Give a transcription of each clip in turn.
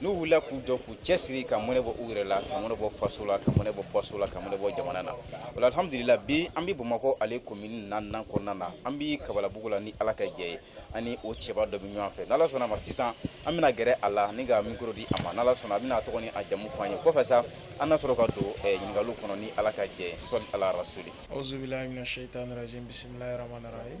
n'u wulila k'u jɔ k'u cɛsiri ka mɔnɛ bɔ u yɛrɛ la ka mɔnɛ bɔ faso la ka mɔnɛ bɔ baso la ka mɔnɛ bɔ jamana na wala alhamdulila bi an bɛ bamakɔ ale komini naaninan kɔnɔna na an bɛ kabalabugu la ni ala ka jɛ ye an ni o cɛba dɔ bɛ ɲɔgɔn fɛ n'ala sɔnna ma sisan an bɛna gɛrɛ a la ni ka mikoro di a ma n'ala sɔnna a bɛna a tɔgɔ ni a jamu fɔ an ye kɔfɛ sa an na sɔrɔ ka don eh, ɲininkaliw kɔnɔ ni ala ka jɛ ye sɔli ala rasuli auzubilahi mina shaitanirajim bisimilahi rahmanirahim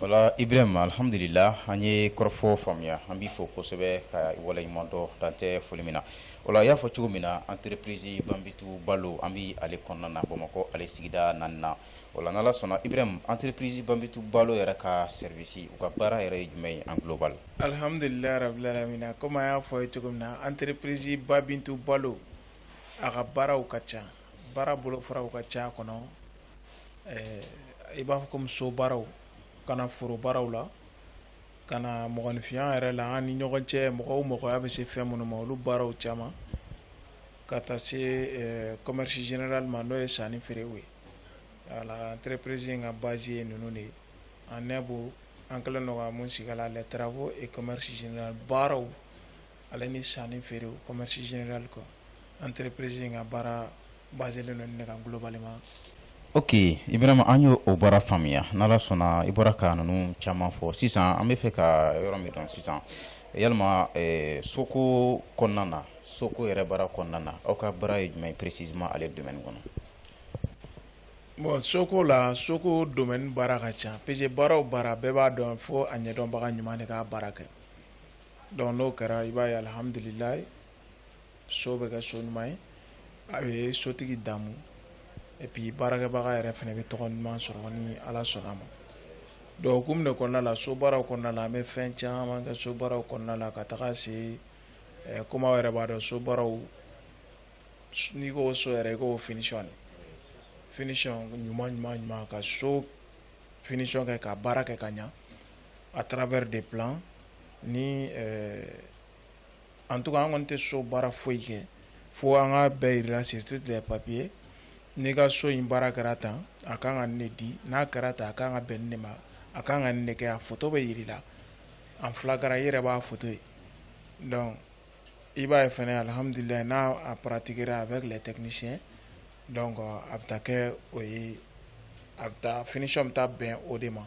Wala ibrahima alihamdulila an ye kɔrɔfɔ faamuya an b'i fo kosɛbɛ ka i waleɲumandɔn dan tɛ foli min na wala i y'a fɔ cogo min na entreprise ba bintu balo an bɛ ale kɔnɔna na bamakɔ ale sigida naaninan wala n'ala sɔnna ibrahima entreprise ba bintu balo yɛrɛ ka service u ka baara yɛrɛ ye jumɛn ye en global alihamdulilahi rabilalamina comme an y'a fɔ i ye cogo min na entreprise ba bintu balo a ka baaraw ka ca baara bolofaraw ka ca kɔnɔ i b'a fɔ comme so baaraw ka na foro baaraw la ka na mɔgɔninfinya yɛrɛ la an ni ɲɔgɔn cɛ mɔgɔw mɔgɔya bɛ se fɛn minnu ma olu baaraw caman ka taa se commerce général ma n'o ye sannifeerew ye wala entreprise ka base ye ninnu de ye an nɛ bɔ an kɛlen don ka mun sigi a la les travaux et commerce général baaraw Ale ni sanni feere commerce général quoi entreprise in ka baara basélen don ne kan globalement ok ibrahima an y'o baara faamuya n'ala sɔnna i bɔra ka ninnu caman fɔ sisan an bɛ fɛ ka yɔrɔ min dɔn sisan yalima eh, soko kɔnɔna na soko yɛrɛ baara kɔnɔna na aw ka baara ye jumɛn ye précisément ale domaine kɔnɔ bon soko la soko domaine baara ka ca parce que baara o baara bɛɛ b'a dɔn fo a ɲɛdɔnbaga ɲuman de k'a baara kɛ Donc n'o kɛra i b'a ye alihamdulila so bɛ kɛ so ɲuman ye a bɛ sotigi damu epi baarakɛbaga yɛrɛ fana bɛ tɔgɔ ɲuman sɔrɔ ni ala sɔnna ma donc hukumu de kɔnɔna la so baaraw kɔnɔna la an bɛ fɛn caman kɛ so baaraw kɔnɔna la ka taga se comme aw yɛrɛ b'a dɔn so baaraw n'i ko so yɛrɛ i ko finition finition ɲuman ɲuman ɲuman ka so finition kɛ ka baara kɛ ka ɲa à travers des plans ni en tout cas an kɔni tɛ so baara foyi kɛ fo an k'a bɛɛ jira sur tous les papiers n'i ka so in baara kɛra tan a ka kan ka ne di n'a kɛra tan a ka kan ka bɛn ne ma a ka kan ka ne kɛ a foto bɛ jira i la en flagrant i yɛrɛ b'a foto ye donc i b'a ye fana alihamdulila n'a pratiquera avec les techniciens donc a bɛ taa kɛ o ye a bɛ taa finition bɛ taa bɛn o de ma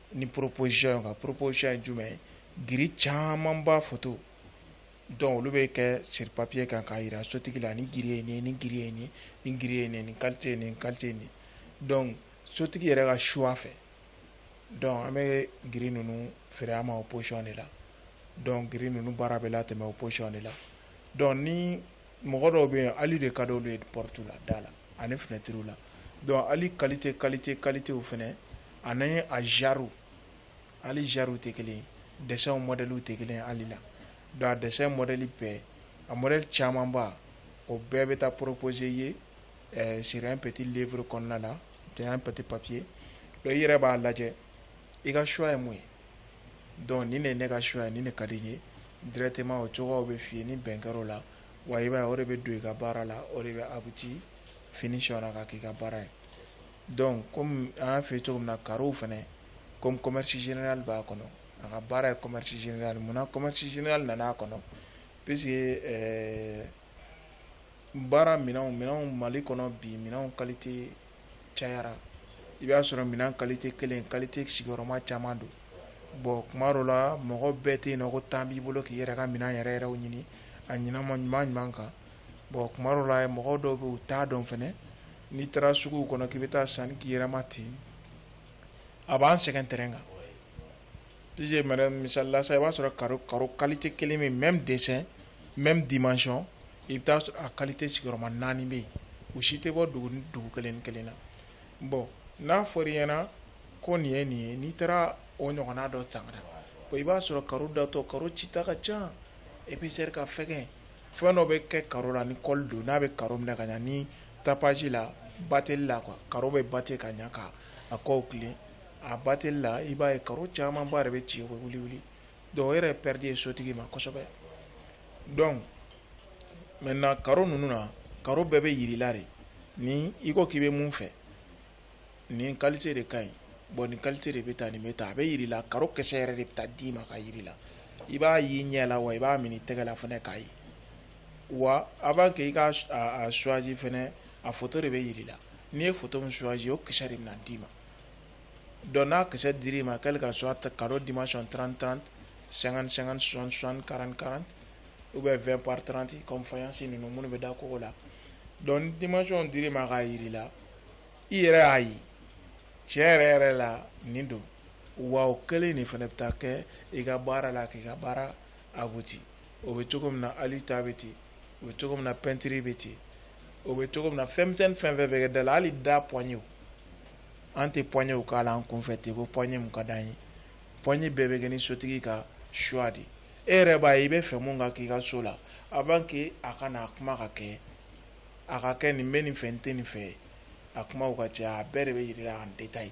Ni poroposi ka poroposi ye jumɛn ye g caman b'a fɔ to dɔnku olu bɛ kɛ siri papiye kan k'a jira sotigi la ni g ye ni g ye ni ni g ye ni ni kate ni kate nin dɔn sotigi yɛrɛ ka su fɛ dɔnku an bɛ g ninnu feere ma o psiɔn de la dɔn g ninnu baara bɛ la tɛmɛ o psiɔn de la dɔn mɔgɔ dɔw bɛ yen hali de ka dɔw ye ptu la da la ani finɛtiriuru la dɔn hali kalilite kalilite kalitew fana ani ye a zaro ali zariw tɛ kelen dɛsɛ mɔdliw tɛ kelen ali la don a dɛsɛ mɔdli bɛɛ a mɔd camanba o bɛɛ bɛ taa poropoze ye siri pti uru kɔnɔna na tɛ pti papiye dɔw yɛrɛ b'a lajɛ i ka choix ye mun ye donc nin de ye ne ka choix ye nin de ka di n ye directement o cogoyaw bɛ f'i ye ni bɛn kɛr'o la wa i b'a ye o de bɛ don i ka baara la o de bɛ abouti finition na ka k'i ka baara ye donc comme an y'a f'i ye cogo min na carreaux fana comme commerce général b'a kɔnɔ a ka baara ye commerce général munna commerce général nana a kɔnɔ puisque ɛɛ baara minɛnw minɛnw Mali kɔnɔ bi minɛnw qualité cayara i b'a sɔrɔ minɛn qualité kelen qualité sigiyɔrɔma caman don bon kuma dɔ la mɔgɔ bɛɛ tɛ yen nɔ ko temps b'i bolo k'i yɛrɛ ka minɛn yɛrɛ yɛrɛ ɲini a ɲɛnama ɲuman ɲuman kan bon kuma dɔ la mɔgɔ dɔw bɛ u t'a dɔn fana n'i taara suguw kɔnɔ k'i bɛ taa sanni k'i yɛrɛ ma ten a b'an sɛgɛn terrain kan P que mara misalila sa i b'a sɔrɔ ka ka kalilite kelen min mɛ dɛsɛ mɛ di mac i bɛ' sɔrɔ a kalilite sigiyɔrɔma naani bɛ yen u si tɛ bɔ dugu dugu kelen kelen na bɔn n'a fɔra i ɲɛnaana ko nin ye nin ye n'i taara o ɲɔgɔn dɔ tama i b'a sɔrɔ ka datɔ ka ci ta ka ca e bɛ se ka fɛn fɛn dɔ bɛ kɛ ka la ni kɔli don n'a bɛ ka minɛ ka ni tapsi la ba teli la ka bɛ ba ka ɲɛ kan a kɔ tile a bateli la i b'a ye carreau caman ba yɛrɛ bɛ ci wuli wuli donc o yɛrɛ perte ye sotigi ma kosɛbɛ donc maintenant carreau ninnu na carreau bɛɛ bɛ jir'i la de ni i ko k'i bɛ mun fɛ nin qualité de ka ɲi bon nin qualité de bɛ taa nin bɛ taa a bɛ jir'i la carreau kisɛ yɛrɛ de bɛ taa d'i ma k'a jir'i la i b'a y'i ɲɛ la wa i b'a minɛ i tɛgɛ la fana k'a ye wa avant que i k'a choisi fana a photo de bɛ jir'i la n'i ye photo min choisi o kisɛ de bɛ na d'i ma Don n'a kisɛ dir' ma k'ale ka so ta ka di ma sɔn tran tan san san sɔn sɔnranran u bɛ fɛn paranti kɔnfasi ninnu minnu bɛ da kogo la dɔn di ma sɔn dir ma k'a jira i la i yɛrɛ y'a ye cɛ yɛrɛ yɛrɛ la nin don wa kɛlen nin fana bɛ taa kɛ i ka baara la k'i ka baara a o bɛ cogo min na alu ta bɛ ten o bɛ cogo min na pɛntiri bɛ ten o bɛ cogo min na fɛn misɛnnin fɛn fɛn bɛ kɛ da la hali da poignet an tɛ poignet k'a la an kunfɛ ten ko poignet mun ka d'an ye poignet bɛɛ bɛ kɛ ni sotigi ka choix de ye e yɛrɛ b'a ye i bɛ fɛ mun ka k'i ka so la avant que a ka na a kuma ka kɛ a ka kɛ n bɛ nin fɛ n tɛ nin fɛ a kumaw ka ca a bɛɛ de bɛ yir'i la en détail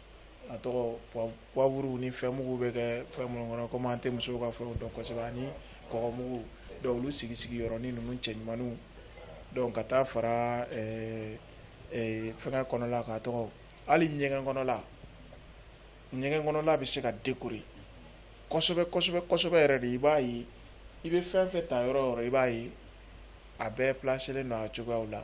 a tɔgɔ poivre ni fɛn mugu bɛ kɛ fɛn minnu kɔnɔ komi an tɛ musow ka fɛnw dɔn kosɛbɛ ani kɔgɔ mugu donc olu sigi sigi yɔrɔnin ninnu cɛɲumanninw donc ka taa fara ɛɛ ɛɛ fɛngɛ kɔnɔla a tɔgɔ hali ɲɛgɛn kɔnɔla ɲɛgɛn kɔnɔla bɛ se ka décorer kosɛbɛ kosɛbɛ kosɛbɛ yɛrɛ de i b'a ye i bɛ fɛn fɛn ta yɔrɔ yɔrɔ i b'a ye a bɛɛ placer len don a cogoyaw la.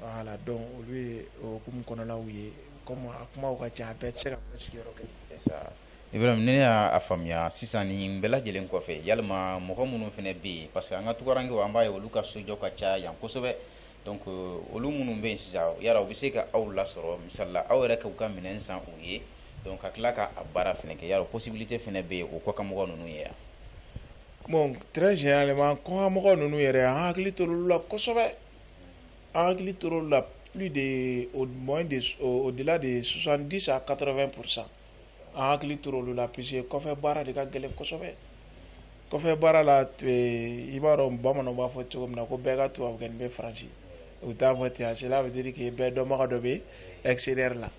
Voilà donc olu ye o hukumu kɔnɔnaw ye a kuma ka ca a bɛɛ tɛ se ka fɔ sigiyɔrɔ kelen Ibrahim ne y'a faamuya sisan nin bɛɛ lajɛlen kɔfɛ yalima mɔgɔ minnu fana bɛ yen parce que an ka tunkarankɛw an b'a ye olu ka sojɔ ka ca yan kosɛbɛ donc olu minnu bɛ yen sisan u bɛ se ka aw lasɔrɔ misali la aw yɛrɛ k'u ka minɛn san u ye ka tila k'a baara fana kɛ yala possibilité fana bɛ yen o kɔkanmɔgɔ ninnu ye yan bon très généralement kɔkanmɔgɔ ninnu yɛrɛ an hakili tor'olu la kosɛbɛ An hakili tor'olu la plus de au moins de au delà de 70 à 80 pour 100 an hakili tor'olu la puisque kɔfɛ baara de ka gɛlɛn kosɛbɛ kɔfɛ baara la i b'a dɔn bamananw b'a fɔ cogo min na ko bɛɛ ka tubabukɛnin bɛ faransi u t'a fɔ ten cela veut dire que bɛɛ dɔnbaga dɔ bɛ extérieur la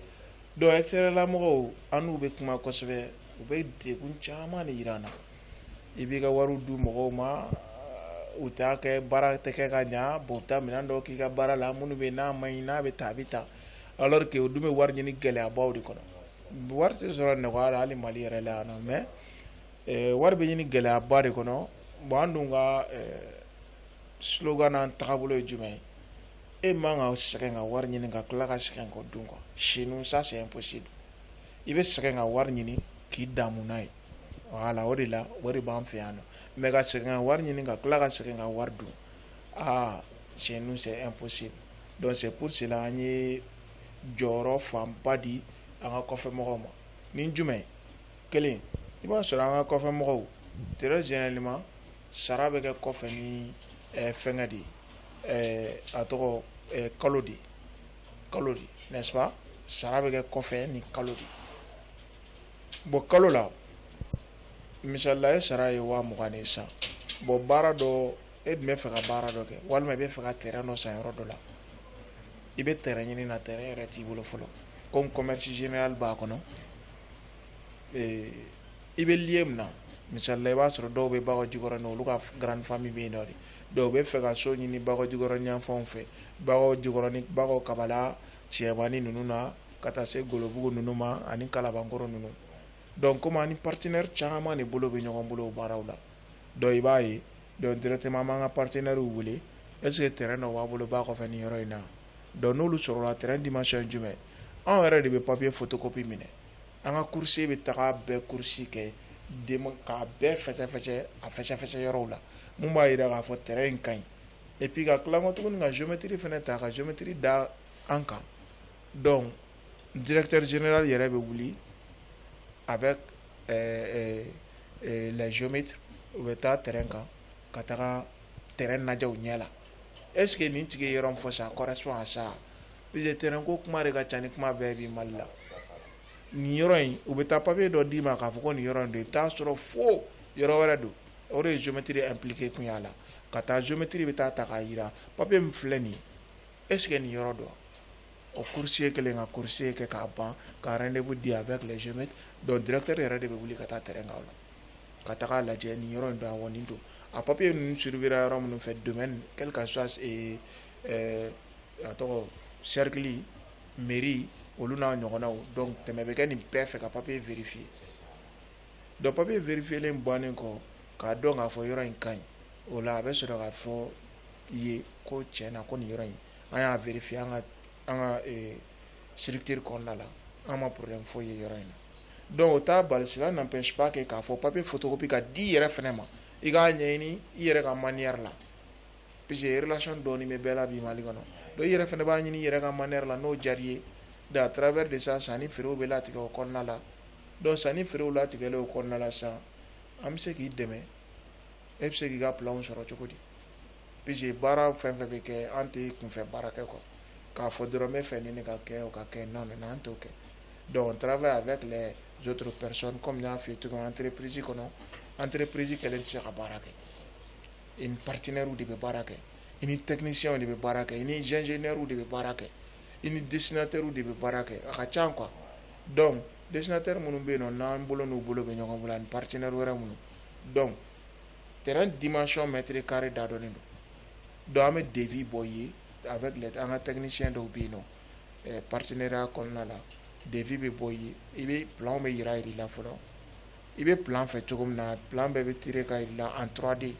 donc extérieur la mɔgɔw an n'u bɛ kuma kosɛbɛ u bɛ degun caman de yira an na i b'i ka wari di mɔgɔw ma u t'a kɛ baara tɛ kɛ ka ɲɛ bon ta minɛn dɔw k'i ka baara la minnu bɛ n'a man ɲi n'a bɛ taa a bɛ taa alors que o dun bɛ wari ɲini gɛlɛyabaw de kɔnɔ wari tɛ sɔrɔ nɔgɔya la hali mali yɛrɛ la yan mais eh, wari bɛ ɲini gɛlɛyaba de kɔnɔ bon an dun ka eh, slogan n'an tagabolo ye jumɛn ye e man ka sɛgɛn ka wari ɲini ka tila ka sɛgɛn k'o dun quoi chez nous ça c'est impossible i bɛ sɛgɛn ka wari ɲini k'i damu n'a ye voilà o de la o de b'an fɛ yan nɔ mais ka sɛgɛn ka wari ɲini ka tila ka sɛgɛn ka wari dun aa chez nous c'est impossible donc c'est pour cela an ye jɔyɔrɔ fanba di an ka kɔfɛ mɔgɔw ma ni jumɛn kelen i b'a sɔrɔ an ka kɔfɛ mɔgɔw très généralement sara bɛ kɛ kɔfɛ ni eh, fɛngɛ de ye eh, a tɔgɔ eh, kalo de kalo de n'est-ce pas sara bɛ kɛ kɔfɛ ni kalo de bon kalo la misalila e sara ye waa mugan de ye sisan bon baara dɔ e dun bɛ fɛ ka baara dɔ kɛ walima i bɛ fɛ ka terrain dɔ san yɔrɔ dɔ la i bɛ terrain ɲini na terrain yɛrɛ t'i bolo fɔlɔ comme commerce général b'a kɔnɔ i bɛ lieu min na misalila i b'a sɔrɔ dɔw bɛ Bakɔjikɔrɔ na olu ka grande famille bɛ yen nɔ de dɔw bɛ fɛ ka so ɲini Bakɔjikɔrɔ yanfanw fɛ Bakɔjikɔrɔ ni Bakɔ Kabala cɛbani ninnu na ka taa se golobugu ninnu ma ani kalabankɔrɔ ninnu donc comme an ni partenaire caman de bolo bɛ ɲɔgɔn bolo baaraw la donc i b'a ye donc directement an b'an ka partenairew wele est ce que terrain dɔ b'a bolo ba kɔfɛ nin yɔrɔ in na donc n'olu sɔrɔla terrain dimension jumɛn anw yɛrɛ de bɛ papier photocopie minɛ an ka coursier bɛ taga bɛɛ course kɛ k'a bɛɛ fɛsɛfɛsɛ a fɛsɛfɛsɛ yɔrɔw la min b'a jira k'a fɔ terrain in ka ɲi et puis ka tila kɔ tuguni ka géométrie fɛnɛ ta ka géométrie da an kan donc directeur général yɛrɛ bɛ wuli avec euh, euh, euh, les géomètres u bɛ taa terrain kan ka taga terrain lajɛ u ɲɛ la est ce que nin tigi ye yɔrɔ min fɔ ça correspond à ça puisque terrain ko kuma de ka ca ni kuma bɛɛ bi mali la nin yɔrɔ in u bɛ taa papier dɔ d'i ma k'a fɔ ko nin yɔrɔ in don i bɛ taa sɔrɔ fo yɔrɔ wɛrɛ don o de ye géométrie impliqué kun y'a la ka taa géométrie bɛ taa ta k'a jira papier min filɛ nin ye est ce que nin yɔrɔ don o coursier kɛlen ka coursier kɛ k'a ban ka rendez-vous di avec les géomètres donc directeur yɛrɛ de bɛ wuli ka taa terrain kan o la ka taga a lajɛ nin yɔrɔ in don awɔ nin don a papier ninnu survivra yɔrɔ minnu fɛ domaine quel que soit ee ɛɛ a tɔgɔ cercle mairie olu n'a ɲɔgɔnnaw donc tɛmɛ bɛ kɛ nin bɛɛ fɛ ka papier vérifier Donc papier vérifier in bannen kɔ k'a dɔn k'a fɔ yɔrɔ in ka ɲi o la a bɛ sɔrɔ k'a fɔ i ye ko tiɲɛ na ko nin yɔrɔ in an y'a vérifier an ka an ka ee structure kɔnɔna la an ma problème foyi ye yɔrɔ in na donc o t'a bali cela n'empêche pas que k'a fɔ papier photocopie ka di i yɛrɛ fɛnɛ ma i k'a ɲɛɲini i yɛrɛ ka manière la puisque relation dɔɔni bɛ bɛɛ la bi Mali kɔnɔ donc i yɛrɛ fɛnɛ b'a ɲini i yɛrɛ ka manière la n'o diyara i ye de à travers de ça sanni feerew bɛ latigɛ o kɔnɔna la Donc sanni feerew latigɛlen o kɔnɔna la sisan an bɛ se k'i dɛmɛ e bɛ se k'i ka plan sɔrɔ cogo di puisque baara fɛn fɛn bɛ kɛ an tɛ kunfɛ baara kɛ quoi k'a fɔ dɔrɔn n bɛ fɛ nin de ka kɛ o ka kɛ non non an t'o kɛ donc on travaille avec les autres personnes comme n y'a f'i ye entreprise kɔnɔ entreprise kelen tɛ se ka baara kɛ i ni partenaire de bɛ baara kɛ i ni technicienw de bɛ baara kɛ i ni ingénieurw de bɛ baara kɛ i ni dessinateur de bɛ baara kɛ a ka ca quoi dɔn desinatɛ minnu bɛ yen nɔn n'an bolo n'u bolo bɛ ɲɔgɔn bolo ani pateɛnɛ wɛrɛ minnu dɔn t dimasiyɔn mɛtiri kari da dɔn don dɔn an bɛ debi bɔ ye a bɛ an ka tɛmɛsiyɛn dɔw bɛ yen nɔn pateɛya kɔnɔna la debi bɛ bɔ yen i bɛ bila bɛ jira i la fɔlɔ i bɛ plan fɛ cogo min na plan bɛɛ bɛ tirer ka yira i la en trois D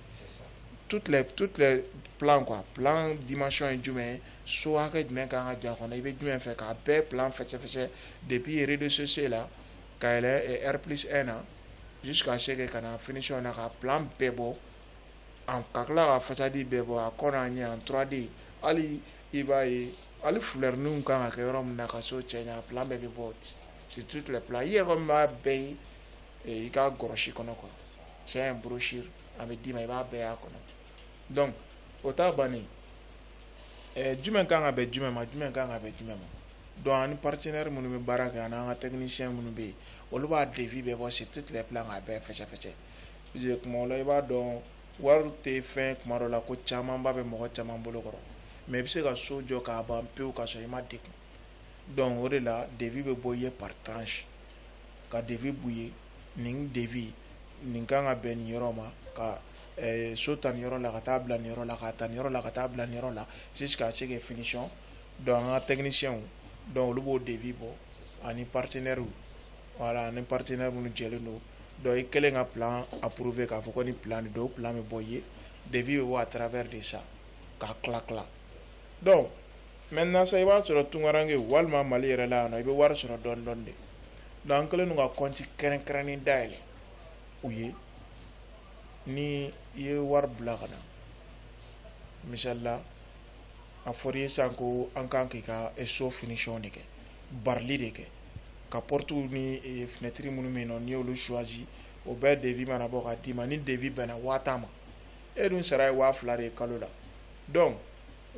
toutes les plans quoi plan dimension ye jumɛn so hakɛ jumɛn ka kan ka j'a kɔnɔ i bɛ jumɛn fɛ k'a bɛɛ plan fɛsɛfɛsɛ depuis rez-de-chaussée la ka yɛlɛ R plus un na jusqu'à ce que ka na finition na ka plan bɛɛ bɔ ka tila ka façade bɛɛ bɔ a kɔnɔ a ɲɛ en trois D hali i b'a ye Hali fleurs ninnu kan ka kɛ yɔrɔ min na ka so cɛ ɲɛ a plan bɛɛ bɛ bɔ sur toutes les plans i yɛrɛ kɔni b'a bɛɛ ye i ka gɔrɔsi kɔnɔ quoi, c'est un brochure a bɛ d'i ma i b'a bɛɛ y'a kɔnɔ donc o ta bannen ɛɛ jumɛn ka kan ka bɛn jumɛn ma jumɛn ka kan ka bɛn jumɛn ma donc ani partenaires minnu bɛ baara kɛ ani an ka techniciens minnu bɛ yen olu b'a devis bɛɛ bɔ sur toutes les plans k'a bɛɛ fɛsɛfɛsɛ puisque tuma dɔ la i b'a dɔn wari tɛ fɛn kuma dɔ la ko camanba bɛ mɔgɔ caman bolo kɔrɔ mais i bɛ se ka so jɔ k'a ban pewu ka sɔrɔ i ma degun donc o de la devis bɛ bɔ i ye par tranche ka devis b'u ye nin devis nin kan ka bɛn nin yɔrɔ ma ka eh, so ta nin yɔrɔ la ka taa bila nin yɔrɔ la ka ta nin yɔrɔ la ka taa bila nin yɔrɔ la jusqu'à ce que finition donc an ka techniciens donc olu b'o devis bɔ ani partenaires Voilà ani partenaire minnu jɛlen don donc i kɛlen ka plan approuver k'a fɔ ko ni plan de don plan bɛ bɔ i ye devis bɛ bɔ à travers de ça k'a tila tila donc maintenant sa i b'a sɔrɔ tunkaranke walima mali yɛrɛ la yan i bɛ wari sɔrɔ dɔɔni dɔɔni de donc an kɛlen don ka kɔnti kɛrɛnkɛrɛnnen dayɛlɛn u ye ni i ye wari bila ka na misali la a fɔra i ye sisan ko an kan k'i ka so finition de kɛ barili de kɛ ka portes ni fenêtre minnu bɛ yen nɔ n'i y'olu choisir o bɛɛ devis mana bɔ ka d'i ma ni devis bɛnna waa tan ma e dun sara ye waa fila de ye kalo la donc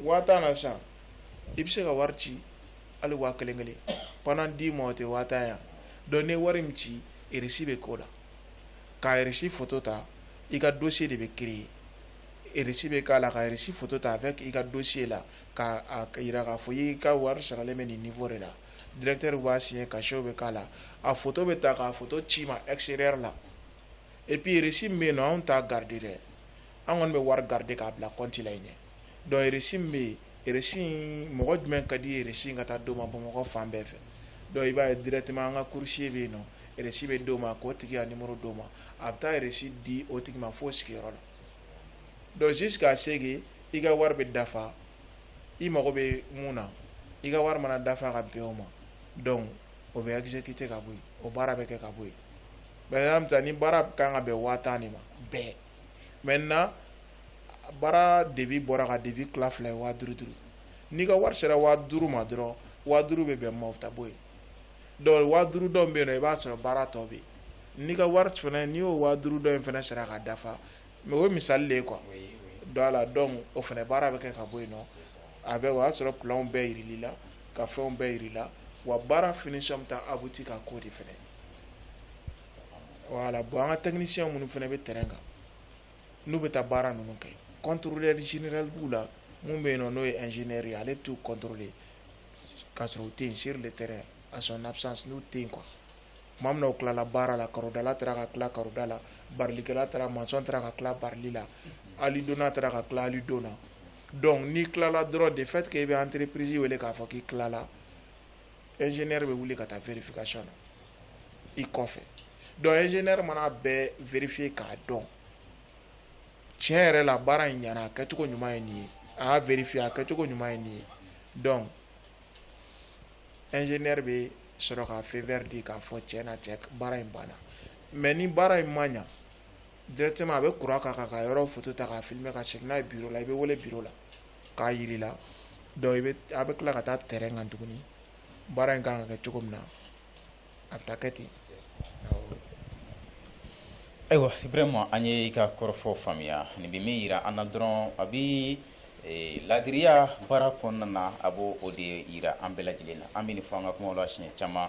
waa tan na sisan i bɛ se ka wari ci hali waa kelen kelen pendant dix mois o tɛ waa tan yan donc ni wari min ci reçu bɛ k'o la ka reçu photo ta i ka dossier de bɛ créer Rsi bɛ k'a la ka resi foto ta a fɛ k'i ka don se la k'a jira k'a fɔ y'i ka wari saralen bɛ nin fɔ de la dtɛri b'a si ka sew bɛ k'a la a foto bɛ ta k'a fɔ ci ma e se la epirisi bɛ yen na anw ta garidi dɛ an kɔni bɛ wari garidi k'a bila kɔntila ɲɛ dɔnkirisi bɛ yen resi mɔgɔ jumɛn ka di resi ka taa don ma bamakɔ fan bɛɛ fɛ dɔnku i b'a ye dɛrɛtɛ an ka kurusi bɛ yen resi bɛ di' ma k'o tigi a ni muru di' ma a bɛ taa yɛrɛresi di o tigi ma foyi sigiyɔrɔ la Donc jusqu'à ce que i ka wari bɛ dafa i mago bɛ mun na i ka wari mana dafa ka bɛn o ma donc o bɛ exécuter ka bɔ yen o baara bɛ kɛ ka bɔ yen par exemple ni baara ka kan ka bɛn waa tan de ma bɛɛ maintenant baara devis bɔra ka devis tila fila ye waa duuru duuru n'i ka wari sera waa duuru ma dɔrɔn waa duuru bɛ bɛn ma a b'o ta bɔ yen Donc waa duuru dɔ bɛ yen i b'a sɔrɔ baara tɔ bɛ yen n'i ka wari fana n'i y'o waa duuru dɔ in fana sera ka dafa mais o ye misali de ye quoi donc voilà donc o fana baara bɛ kɛ ka bɔ yen nɔ a bɛ o y'a sɔrɔ plan bɛɛ jira i la ka fɛnw bɛɛ jira i la wa baara finition bɛ taa abouti ka k'o de fana voilà bon an ka technicien minnu fana bɛ terrain kan n'u bɛ taa baara ninnu kɛ contrôleur général b'u la min bɛ yen n'o ye ingénieur ye ale bɛ t'u contrôler Ka sɔrɔ u tɛ yen sur le terrain à son absence n'u tɛ yen quoi tuma min na u tilala baara la karodala taara ka tila karoda la barilikɛla taara maçon taara ka tila barili la alidonna taara ka tila alidon na donc n'i tilala dɔrɔn de fait que i bɛ entreprise wele k'a fɔ k'i tilala ingénieur bɛ wuli ka taa vérification na i kɔfɛ donc ingénieur mana a bɛɛ vérifier k'a dɔn tiɲɛ yɛrɛ la baara in ɲana a kɛcogo ɲuman ye nin ye a y'a vérifier a kɛcogo ɲuman ye nin ye donc ingénieur bɛ sɔrɔ ka feu vert di k'a fɔ tiɲɛ na cɛ baara in banna mais ni baara in ma ɲa directement a bɛ courant k'a kan ka yɔrɔ photo ta k'a filmer ka segin n'a ye bureau la i bɛ wele bureau la k'a yir'i la donc i bɛ a bɛ tila ka taa terrain kan tuguni baara in kan ka kɛ cogo min na a bɛ taa kɛ ten ayiwa Ibrahima an ye i ka kɔrɔfɔ faamuya nin bɛ min jira an na dɔrɔn a bɛ laadiriya baara kɔnɔna na a b'o o de jira an bɛɛ lajɛlen na an bɛ nin fɔ an ka kuma la siɲɛ caman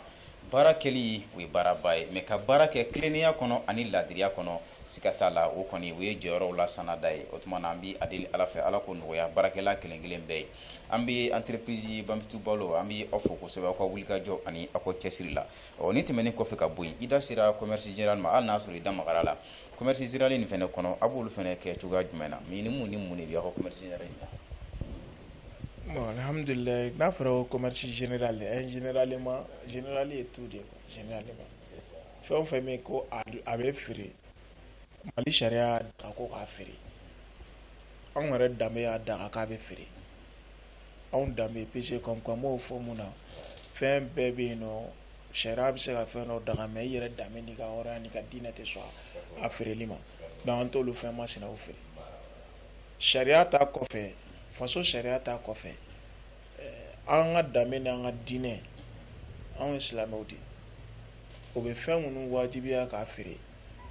baara kɛli o ye baaraba ye mais ka baara kɛ tilennenya kɔnɔ ani laadiriya kɔnɔ siga t'a la o kɔni o ye jɔyɔrɔw la sanna ta ye o tuma na an bɛ a deli ala fɛ ala k'o nɔgɔya baarakɛla kelenkelen bɛɛ ye an bɛ antirepsi banptu balo an bɛ aw fɔ kosɛbɛ aw ka wuli kajɔ ani aw ko cɛsiri la ɔ ni tɛmɛnen kɔfɛ ka bɔ i da sera comsi jɛra ma an n'a sɔrɔ i da mara la comsi siralen nin fana kɔnɔ a b'olu fana kɛ cogoya jumɛn na ni mun ni mun de bɛ awaɔmasi in nahamilila n'a fɔra comsi jɛnɛda la jɛnɛlen ma jɛnɛli ye tu de jɛnɛ fɛn fɛn bɛ ko a bɛ feere Mali sariya y'a daga ko k'a feere anw yɛrɛ danbe y'a daga k'a bɛ feere anw danbe parce que k'an b'o fɔ mun na fɛn bɛɛ bɛ yen nɔ sariya bɛ se ka fɛn dɔ daga mais i yɛrɛ danbe n'i ka hɔrɔnya n'i ka diinɛ tɛ sɔn a feereli ma donc an t'olu fɛn masinaw feere sariya ta kɔfɛ faso sariya ta kɔfɛ an ka danbe ni an ka diinɛ anw ye silamɛw de ye o bɛ fɛn minnu wajibiya k'a feere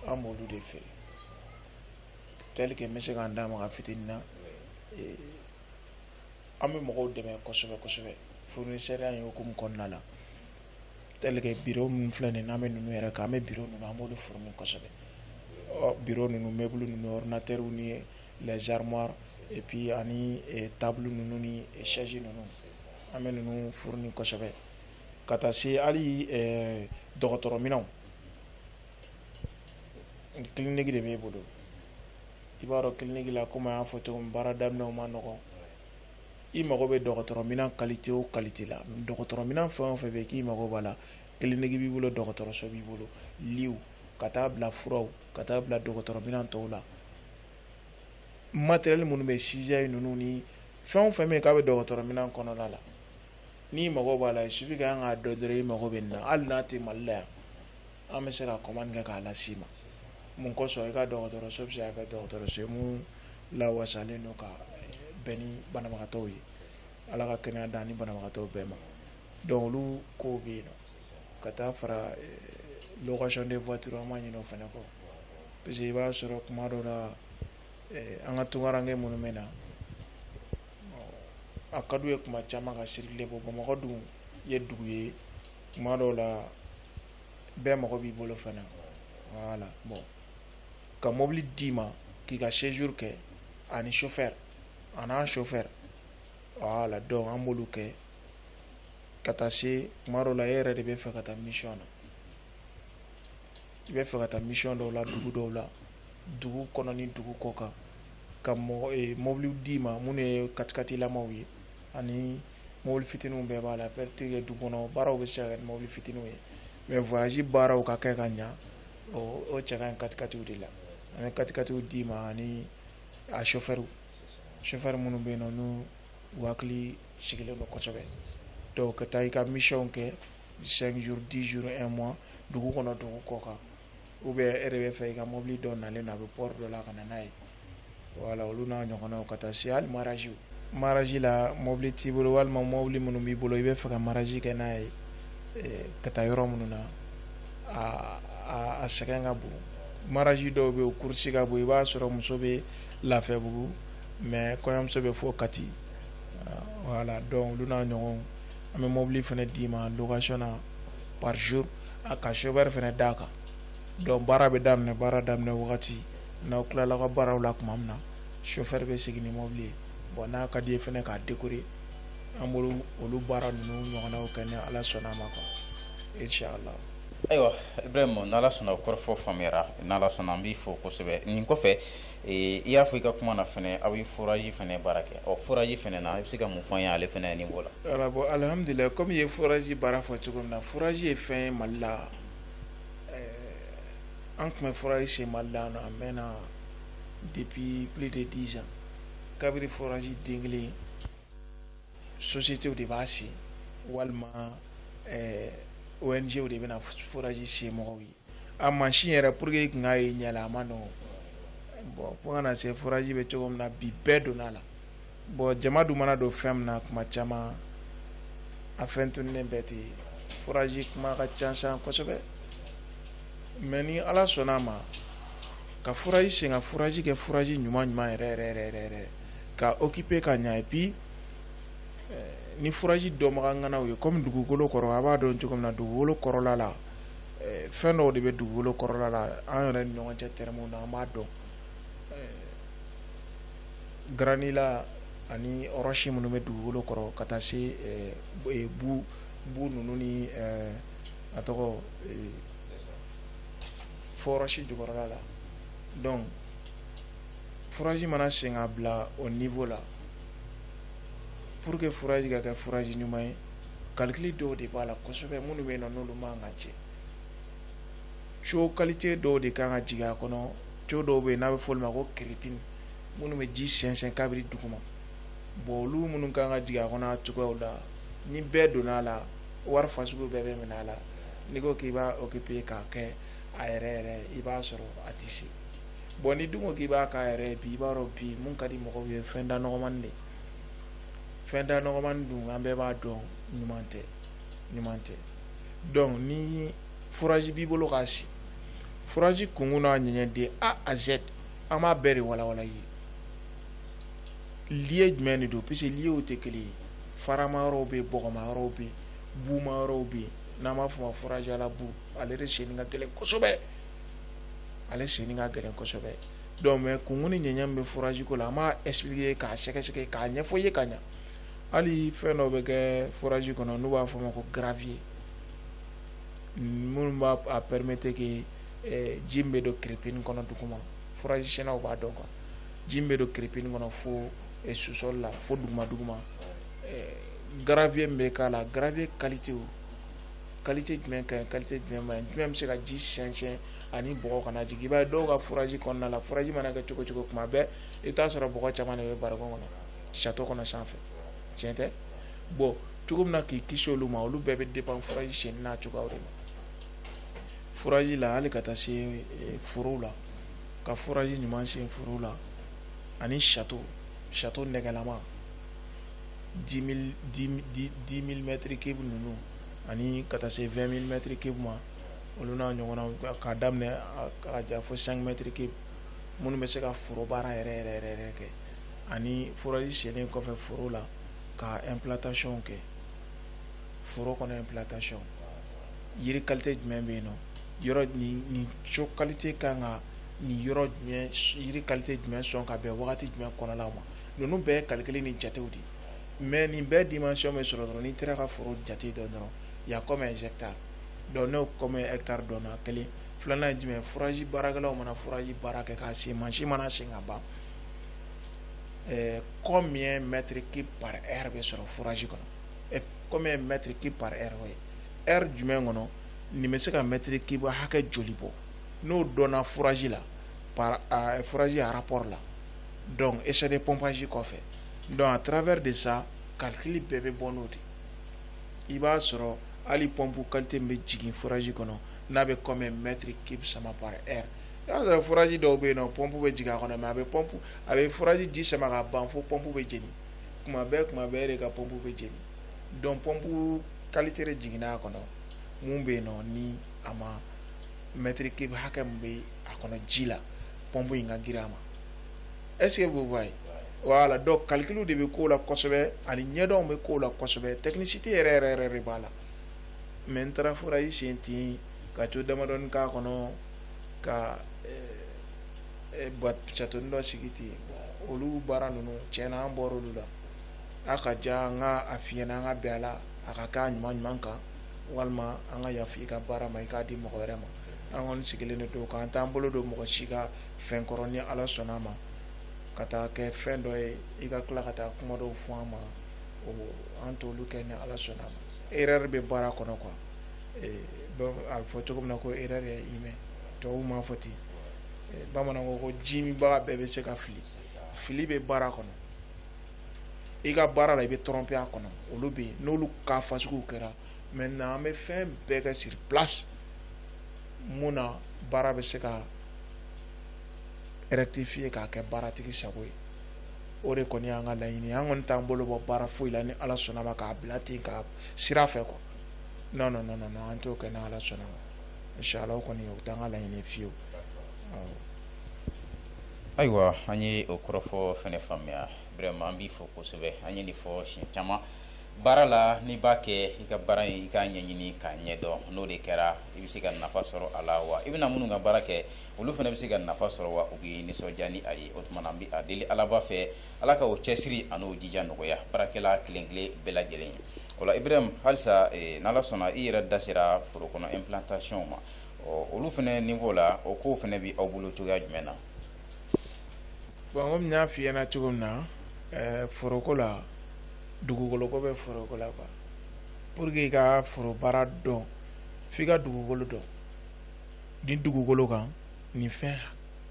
an b'olu de feere tel que n bɛ se k'an d'a ma ka fitinin na an bɛ mɔgɔw dɛmɛ kosɛbɛ kosɛbɛ fournisseria in hukumu kɔnɔna la tel que biro minnu filɛ nin n'an bɛ ninnu yɛrɛ kan an bɛ biro ninnu an b'olu fourni kosɛbɛ ɔ biro ninnu meuble ninnu ordinatɛriw ni les armoires et puis ani table ninnu ni chaise ninnu an bɛ ninnu fourni kosɛbɛ ka taa se hali dɔgɔtɔrɔminɛnw kiliniki de b'e bolo i b'a dɔn kiliniki la komi an y'a fɔ cogo min baara daminɛw ma nɔgɔn i mago bɛ dɔgɔtɔrɔminɛn kalite o kalite la dɔgɔtɔrɔminɛn fɛn o fɛn bɛ k'i mago b'a la kiliniki b'i bolo dɔgɔtɔrɔso b'i bolo liw ka taa bila furaw ka taa bila dɔgɔtɔrɔminɛn tɔw la matɛrɛli minnu bɛ sijayi ninnu ni fɛn o fɛn bɛ yen k'a bɛ dɔgɔtɔrɔminɛn kɔnɔna la n'i mago b'a la suffit que an k'a dɔn dɔrɔn i mago bɛ nin na hali n'a tɛ Mali la yan an bɛ se ka commande kɛ k'a las'i ma mun kosɔn i ka dɔgɔtɔrɔso bɛ se ka kɛ dɔgɔtɔrɔso ye min lawasalen don ka bɛn ni banabagatɔ ye ala ka kɛnɛya d'an ni banabagatɔ bɛɛ ma donc olu kow bɛ yen ka taa fara location de voiture an ma ɲinɛ o fana kɔ parce que i b'a sɔrɔ kuma dɔw la an ka tunkaranke minnu bɛ na a ka d'u ye kuma caman ka circuler bon Bamakɔ dun ye dugu ye kuma dɔw la bɛɛ mago b'i bolo fana voilà bon ka mɔbili d'i ma k'i ka séjour kɛ ani chauffeur a n'a chauffeur voilà donc an b'olu kɛ ka taa se kuma dɔw la e yɛrɛ de bɛ fɛ ka taa mission na i bɛ fɛ ka taa mission dɔw la dugu dɔw la dugu kɔnɔ ni dugu kɔ kan ka mɔgɔ ee mɔbiliw d'i ma minnu ye katikatilamaw ye ani mɔbili fitininw bɛɛ b'a la peut-être dugu kɔnɔ baaraw bɛ se ka kɛ ni mɔbili fitininw ye mais voyage baaraw ka kɛ ka ɲa o o cɛ ka ɲi katikatiw de la an bɛ katikatiw d'i ma ani a chauffeur chauffeur minnu bɛ yen nɔ n'u u hakili sigilen don kosɛbɛ donc ka taa i ka mission kɛ 5 jours 10 jours 1 mois dugu kɔnɔ dugu kɔ kan ou bien e de bɛ fɛ i ka mobili dɔ nalen don a bɛ port dɔ la ka na n'a ye voilà olu n'a ɲɔgɔnnaw ka taa se hali mariage mariage la mobili t'i bolo walima mobili minnu b'i bolo i bɛ fɛ ka mariage kɛ n'a ye eh, ka taa yɔrɔ minnu na a a sɛgɛn ka bon mariage dɔw bɛ yen course ka bon i b'a sɔrɔ muso bɛ Lafiyabugu mais kɔɲɔmuso bɛ fɔ Kati voilà donc olu n'a ɲɔgɔnw an bɛ mobili fana d'i ma location na par jour a ka chauffeur fana d'a kan donc baara bɛ daminɛ baara daminɛ wagati n'aw tilala ka baaraw la tuma min na chauffeur bɛ segin ni mobili ye bon n'a ka d'i ye fana k'a décorer an b'olu baara ninnu ɲɔgɔnnaw kɛ ni ala sɔnna a ma quoi inchallah ayiwa ibrahim n'ala sɔnna o kɔrɔfɔ faamuyara n'ala sɔnna an b'i fo kosɛbɛ nin kɔfɛ Ee i y'a fɔ i ka kuma na fana aw bɛ forage fana baara kɛ ɔ forage fana na i bɛ se ka mun fɔ an ye ale fana niveau la voilà bon alihamdulila kɔmi i ye forage baara fɔ cogo min na forage ye fɛn ye mali la an tun bɛ forage sen mali la a mɛnna depuis plus de dix ans kabiri forage den kelen société de b'a sen walima ONGw de bɛna forage sen mɔgɔw ye A machine yɛrɛ pour que i tun k'a ye ɲɛ la a man nɔgɔn bon fo ka na se forage bɛ cogo min na bi bɛɛ donna a la bon jama dun mana don fɛn min na tuma caman a fɛn tununlen bɛɛ ten yen forage kuma ka ca kosɛbɛ mais ni ala sɔnna a ma ka forage sen ka forage kɛ forage ɲuman ɲuman yɛrɛ ka o équiper ka ɲɛ et puis ni forage dɔnbaga ŋana ye kɔmi dugukolo kɔrɔ a b'a dɔn cogo min na dugukolo kɔrɔla la fɛn dɔw de bɛ dugukolo kɔrɔla la an yɛrɛ ni ɲɔgɔn cɛ termes na an b'a dɔn granit la ani ɔrɔsi minnu bɛ dugukolo kɔrɔ ka taa se bu bu ninnu ni a tɔgɔ fo ɔrɔsi jukɔrɔla la donc forage mana sen ka bila o niveau la pour que forage ka kɛ forage ɲuman ye calcul dɔw de b'a la kosɛbɛ minnu bɛ na n'olu man ka cɛ tuyau qualité dɔw de kan ka jigin a kɔnɔ tuyau dɔw bɛ yen n'a bɛ fɔ ma ko crépine minnu bɛ ji sɛnsɛn kabiri duguma bon olu minnu kan ka jigin a kɔnɔ cogoyaw la ni bɛɛ donna a la wari fasugu bɛɛ bɛ minɛ a la n'i ko k'i b'a équiper k'a kɛ a yɛrɛ yɛrɛ i b'a sɔrɔ a tɛ se bon n'i dun ko k'i b'a kɛ a yɛrɛ bi i b'a dɔn bi minnu ka di mɔgɔw ye fɛn da nɔgɔmani de fɛn da nɔgɔmani dun an bɛɛ b'a dɔn ɲuman tɛ ɲuman tɛ donc ni forage b'i bolo k'a sen forage kunkun n'a ɲɛɲɛ de a à z an b'a bɛɛ de walawala i ye lieu jumɛn de don puisque lieuw tɛ kelen ye farama yɔrɔw bɛ yen bɔgɔma yɔrɔw bɛ yen buuma yɔrɔw bɛ yen n'an b'a fɔ ma forage à la boue ale de senni ka gɛlɛn kosɛbɛ ale senni ka gɛlɛn kosɛbɛ donc mais kunkun ni ɲɛɲɛ min bɛ furajiko la an b'a expliquer k'a sɛgɛsɛgɛ k'a ɲɛfɔ i ye ka ɲɛ hali fɛn dɔ bɛ kɛ furaji kɔnɔ n'u b'a fɔ ma ko gravier minnu b'a a permettre que eh, ji min bɛ don kiripini kɔnɔ duguma furaji sennaw b'a dɔn quoi ji min bɛ don kiripini kɔnɔ fo eh, sous-sol la fo duguma duguma eh, gravier min bɛ k'a la gravier kalite kalite jumɛn ka ɲi kalite jumɛn ma ɲi jumɛn bɛ se ka ji sɛnsɛn ani bɔgɔ kana jigin i b'a ye dɔw ka furaji kɔnɔna la furaji mana kɛ cogo cogo kuma bɛɛ i bɛ t'a sɔrɔ bɔgɔ caman bɛ bara kɔnɔ château kɔnɔ sanfɛ tiɲɛ tɛ bɔn cogo min na k'i kisi olu ma olu bɛɛ bɛ dépend furaji senni n'a cogoya de ma furaji la hali ka taa se eh, foro la ka furaji ɲuman sen foro la ani château château nɛgɛlama dix mille dix mille mètres cube ninnu ani ka taa se vingt mille mètres cube ma olu n'a ɲɔgɔnna k'a daminɛ ja fo cinq mètres cube minnu bɛ se ka foro baara yɛrɛ kɛ ani furaji senlen kɔfɛ foro la ka implantation kɛ foro kɔnɔ implantation yiri kalite jumɛn bɛ yen yɔrɔ nin sol kalite ka kan ka nin yɔrɔ yiri kalite jumɛn sɔn ka bɛn wagati jumɛn kɔnɔ la ma ninnu bɛɛ calcul ni jatew de mais nin bɛɛ dimension bɛ sɔrɔ dɔrɔn n'i taara ka foro jate dɔn dɔrɔn y a combien hectare dɔnku ne kɔmi e taari dɔn kelen filanan ye jumɛn furaji baarakɛlaw mana furaji baara kɛ k'a sen masi mana sen ka ban kɔ min ye mɛtiriki pa e bɛ sɔrɔ furaji kɔnɔ kɔmi ye mɛtiriki pa e ye e jumɛn kɔnɔ nin bɛ se ka mɛtiri kiba hakɛ joli bɔ n'o dɔn furaji la furaji arap la dɔn esa de pɔnpsi kɔfɛ dɔn a tarawele de sa kali bɛɛ bɛ bɔ n'o de i b'a sɔrɔ hali pɔnpu kalite min bɛ jigin furaji kɔnɔ n'a bɛ combien mètre cube sama par heure i b'a sɔrɔ furaji dɔw bɛ yen nɔ pɔnpu bɛ jigin a kɔnɔ mais a bɛ pɔnpu a bɛ furaji ji sama ka ban fo pɔnpu bɛ jeni kuma bɛɛ kuma bɛɛ de ka pɔnpu bɛ jeni donc pɔnpu kalite de jiginna a kɔnɔ mun bɛ yen nɔ ni a ma mètre cube hakɛ min bɛ a kɔnɔ ji la pɔnpu in ka girin a ma est-ce que vous voyez voilà donc calcul de bɛ ko la kosɛbɛ ani ɲɛdɔn bɛ ko la kosɛbɛ technicité yɛrɛ yɛrɛ yɛrɛ de b'a la mais n taara furaji sen ten ka tiyo damadɔni k'a kɔnɔ ka châteaunin dɔ sigi ten olu baara ninnu tiɲɛna an bɔra olu la a ka ja an ka a f'i ɲɛna an ka bɛn a la a ka k'a ɲuman ɲuman kan walima an ka yafa i ka baara ma i k'a di mɔgɔ wɛrɛ ma an kɔni sigilen de don k'an t'an bolo don mɔgɔ si ka fɛn kɔrɔ ni ala sɔnna a ma ka taa kɛ fɛn dɔ ye i ka tila ka taa kuma dɔw fɔ an ma o an t'olu kɛ ni ala sɔnna a ma erreur bɛ baara kɔnɔ quoi ee donc a bɛ fɔ cogo min na ko erreur ye humain tubabuw m'a fɔ ten ee, bamananw ko ko ji minbaga bɛɛ bɛ se ka fili fili bɛ baara kɔnɔ i ka baara la i bɛ tromper a kɔnɔ olu bɛ yen n'olu ka fasuguw kɛra maintenant an bɛ fɛn bɛɛ kɛ sur place mun na baara bɛ se ka rectifier k'a kɛ baaratigi sago ye o de kɔni y'an ka laɲini an kɔni t'an bolo bɔ baara foyi la ni ala sɔnna a ma k'a bila ten ka sira fɛ quoi non non non non non, an t'o kɛ ni ala sɔnna a ma inshallah o kɔni o t'an ka laɲini fiyewu awɔ. ayiwa an ye o kɔrɔfɔ fɛnɛ faamuya vraiment an b'i fo kosɛbɛ an ye nin fɔ siɲɛ caman baara la n'i b'a kɛ i ka baara in i k'a ɲɛɲini k'a ɲɛdɔn n'o de kɛra i bɛ se ka nafa sɔrɔ a la wa i bɛna minnu ka baara kɛ olu fana bɛ se ka nafa sɔrɔ wa u bɛ nisɔndiya ni a ye o tuma na an bɛ a deli alaba fɛ ala ka o cɛsiri a n'o jija nɔgɔya baarakɛla kelenkelen bɛɛ lajɛlen ye o la Ibrahim halisa n ala sɔnna i yɛrɛ da sera foro kɔnɔ implantation ma ɔ olu fana niveau la o ko fana bɛ aw bolo cogoya jumɛn na bon comme n y'a f'i ɲɛna cogo min na foroko la dugukolo ko bɛ foroko la quoi pour que i ka foro baara dɔn f'i ka dugukolo dɔn nin dugukolo kan nin fɛn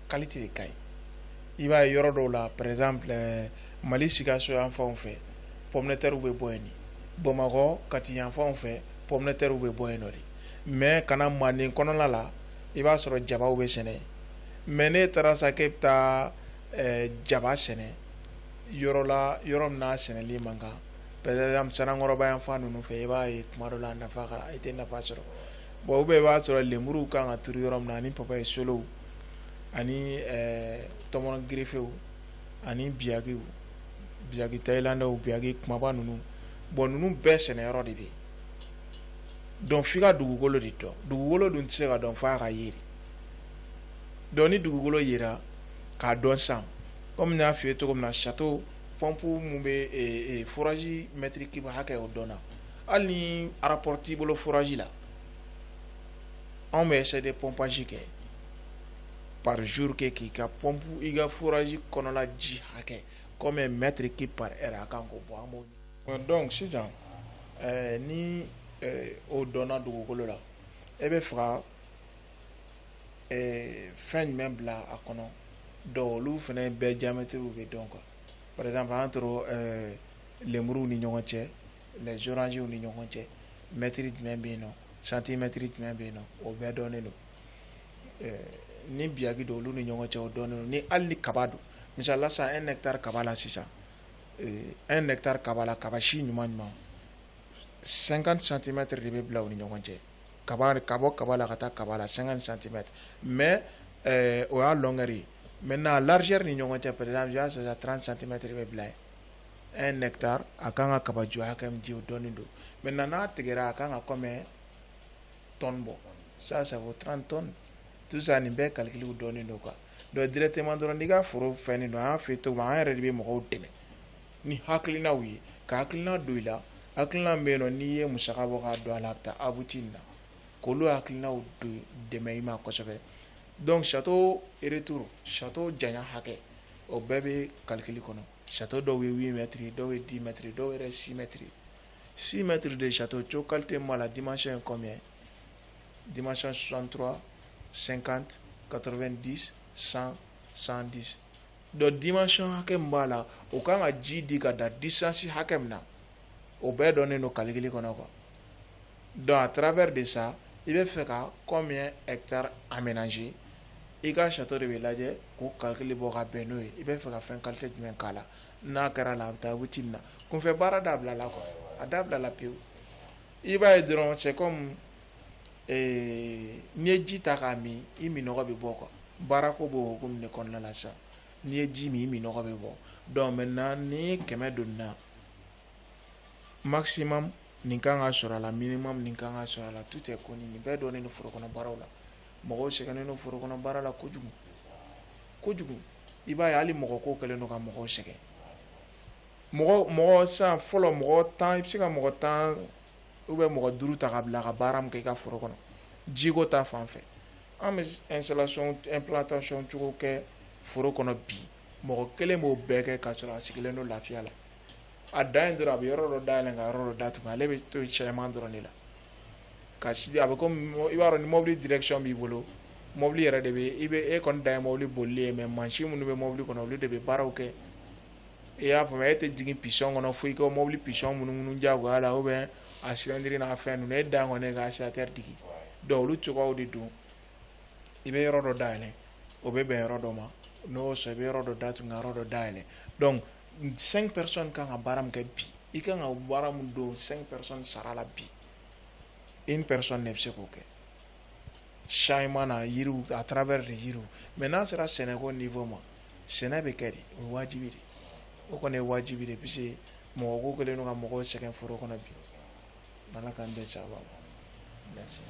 qualité de ka ɲi i b'a ye yɔrɔ dɔw la par exemple eh, mali sikaso yan fanw fɛ pomme de terre bɛ bɔ yen de bamakɔ kati yan fanw fɛ pomme de terre bɛ bɔ yen nɔ de mais ka na manden kɔnɔna la i b'a sɔrɔ jabaw bɛ sɛnɛ yen mais n'e taara sa k'e bɛ taa eh, jaba sɛnɛ yɔrɔ la yɔrɔ min n'a sɛnɛli man kan sanankɔrɔba yan fan ninnu fɛ i b'a ye tuma dɔ la nafa i tɛ nafa sɔrɔ bon ou bien i b'a sɔrɔ lenmuruw kan ka turu yɔrɔ min na ani papaye solow ani eh, tɔmɔnɔ gerefew ani biyakiw biyaki tayilandaw biyaki kumaba ninnu bon ninnu bɛɛ sɛnɛyɔrɔ de bɛ yen donc f'i ka dugukolo de dɔn dugukolo dun tɛ se ka dɔn f'a ka ye de donc ni dugukolo yera k'a dɔn san Kɔmi y'a f ye cogo min na sato pɔnp minnu bɛ furaji mɛtiri kiba hakɛ o dɔn hali ni arapote bolo furaji la anw bɛ se de pɔnpsi kɛ pazouru kɛ k'i ka pɔnp i ka furaji kɔnɔla ji hakɛ kɔmi mɛtiri ke pa a kan ko bɔ an dɔn sisan ni o dɔn dugukolo la e bɛ faga ɛɛ fɛn jumɛn bila a kɔnɔ donc olu fana bɛɛ diamètre bɛ dɔn quoi par exemple entre ɛɛ lemuruw ni ɲɔgɔn cɛ les oranges ni ɲɔgɔn cɛ mètre jumɛn bɛ yen nɔ centimètre jumɛn bɛ yen nɔ o bɛɛ dɔnnen don ɛɛ ni biyaki don olu ni ɲɔgɔn cɛ o dɔnnen don ni hali ni kaba don misali la sisan un hectare kaba la sisan ɛɛ un hectare kaba la kaba si ɲuman ɲuman 50 centimètres de bɛ bila u ni ɲɔgɔn cɛ ka bɔ kaba la ka taa kaba la san santi mɛ o y'a dɔnkɛ mɛ na lareri ni ɲɔgɔn cɛ pere y'a sɔrɔ tran santimɛtiriri bɛ bila e nɛ taa a k' kan ka kabajɔya kɛ o dɔn don mɛ na n'a tigɛ a ka kan ka kɔ mɛn tɔn bɔ sa sabu o tran tɔn tu nin bɛɛ kalikiw dɔn don kan dɔn dtema dɔrɔn n'i ka foro fɛn nin don an fɛ yen to an yɛrɛ de bɛ mɔgɔw dɛmɛ ni hakilinaw ye ka hakilina don i la hakilina min bɛ yen nɔ n'i ye musaka bɔ k'a don a la a bɛ taa abuti nin na k'olu hakilinaw don dɛmɛ i ma kosɛbɛ donc château retour château janya hakɛ o bɛɛ bɛ calcul kɔnɔ château dɔw ye 8 mètres ye dɔw ye 10 mètres ye dɔw yɛrɛ 6 mètres ye 6 mètres de château tuyau qualité min b'a la dimension ye combien dimension 63 50 90 100 110 donc dimension hakɛ min b'a la o kan ka ji di ka da distance hakɛ min na o bɛɛ dɔnnen don kalikili kɔnɔ quoi donc à travers de ça i bɛ fɛ ka combien hectare aménager i ka château de bɛ lajɛ k'o calcul bɔ ka bɛn n'o ye i bɛ fɛ ka fɛn qualité jumɛn k'a la n'a kɛra la a bɛ taa abuti nin na kunfɛ baara dabila la quoi a dabila la pewu i b'a ye dɔrɔn c'est comme ee n'i ye ji ta k'a min i minɔgɔ bɛ bɔ quoi baarako b'o hukumu de kɔnɔna la sisan n'i ye ji min i minɔgɔ bɛ bɔ donc maintenant ni kɛmɛ donna maximum nin kan ka sɔrɔ a la minimum nin kan ka sɔrɔ a la tout est connu nin bɛɛ dɔnnen don foro kɔnɔ baaraw la mɔgɔw sɛgɛnnen don foro kɔnɔ baara la kojugu kojugu i b'a ye hali mɔgɔ ko kɛlen don ka mɔgɔw sɛgɛn mɔgɔ mɔgɔ sisan fɔlɔ mɔgɔ tan i bɛ se ka mɔgɔ tan ou bien mɔgɔ duuru ta ka bila ka baara min kɛ i ka foro kɔnɔ jiko ta fan fɛ an bɛ installation implantation cogo kɛ foro kɔnɔ bi mɔgɔ kelen b'o bɛɛ kɛ ka sɔrɔ a sigilen don lafiya la a dan ye dɔrɔn a bɛ yɔrɔ dɔ dayɛlɛn ka yɔrɔ dɔ datugu ale bɛ to cɛman dɔrɔn de la ka sigi a bɛ komi i b'a dɔn ni mobili direction b'i bolo mobili yɛrɛ de bɛ i bɛ e kɔni dan ye mobili bolili ye mais mansin minnu bɛ mobili kɔnɔ olu de bɛ baaraw kɛ i y'a faamuya e tɛ jigin piston kɔnɔ fo i ka mobili piston munumunu jagoya la ou bien a cylindre n'a fɛn ninnu e dan kɔni ye ka accélérateur digi donc olu cogoyaw de don i bɛ yɔrɔ dɔ dayɛlɛ o bɛ bɛn yɔrɔ dɔ ma n'o y'o sɔrɔ i bɛ yɔrɔ dɔ datugu ka yɔrɔ dɔ dayɛlɛ donc cinq personnes kan ka baara min kɛ bi i kan ka baara min don cinq personnes sara la bi une personne ne bɛ se k'o kɛ changement na yiriw à travers des yiriw mais n'a sera sɛnɛko niveau ma sɛnɛ bɛ kɛ de o ye wajibi de o kɔni ye wajibi de puisque mɔgɔ ko kɛlen don ka mɔgɔw sɛgɛn foro kɔnɔ bi Ala k'an bɛɛ sababa ma merci.